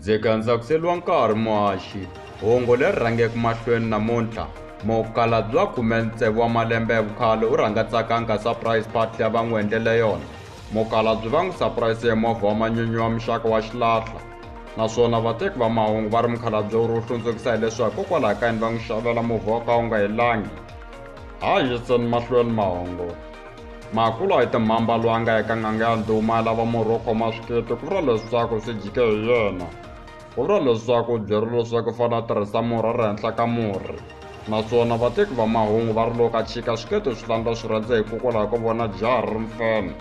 ndzi gandza ku seliwa nkarhi muhaxi hungu leri rhangeke mahlweni namuntlha mukala bya khume ntsevu wa malembe ya vukhale u rhanga tsakanga surprise party ya va n'wi endlele yona Mukhalabye va n'wi sapurayise hi movha wa manyunyu wa muxaka wa xilahlwa naswona vateki va mahungu va ri mukhalabye wu ri wu hlundzukisa hileswaku hikokwalaho ka yini va n'wi xavela movha wa ka wu nga helangi ha yiseni mahlweni mahungu makulu a hi timhamba loyi a nga eka n'anga ya ndhuma ya lava murhi wo khoma swikete ku vula leswaku swi jike hi yena Vula leswaku byeri leswaku fana a tirhisa murhi ri henhla ka murhi naswona vateki va mahungu va ri loko ka chika swiketo swi landza swi rhandza hikokwalaho ko vona jaha ri ri mfana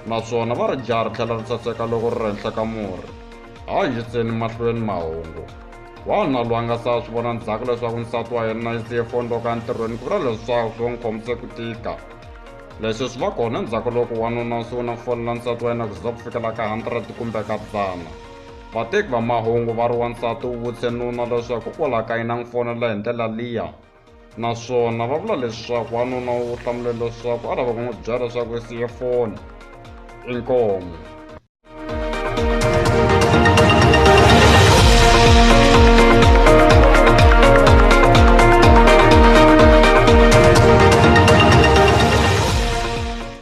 naswona va ri jaha ri tlhela ri saseka loko ri ri henhla ka murhi ha yiseni mahlweni mahungu wanuna loyi a nga sa swi vona ndzhaku leswaku nsati wa yena yi siye foni loko ya ntirhweni ku vula leswaku swi n'wi khomise ku tika leswi swi va kona endzhaku loko wanuna u sungula ku fonela nsati wa yena ku za ku fikela ka hundred kumbe ka dzana Vateki va mahungu va ri wansati u vutise nuna leswaku u la ka yina n'wi fonela hi ndlela liya naswona va vula leswaku wanuna wu hlamule leswaku a lava ku n'wi byela leswaku i siye foni inkomo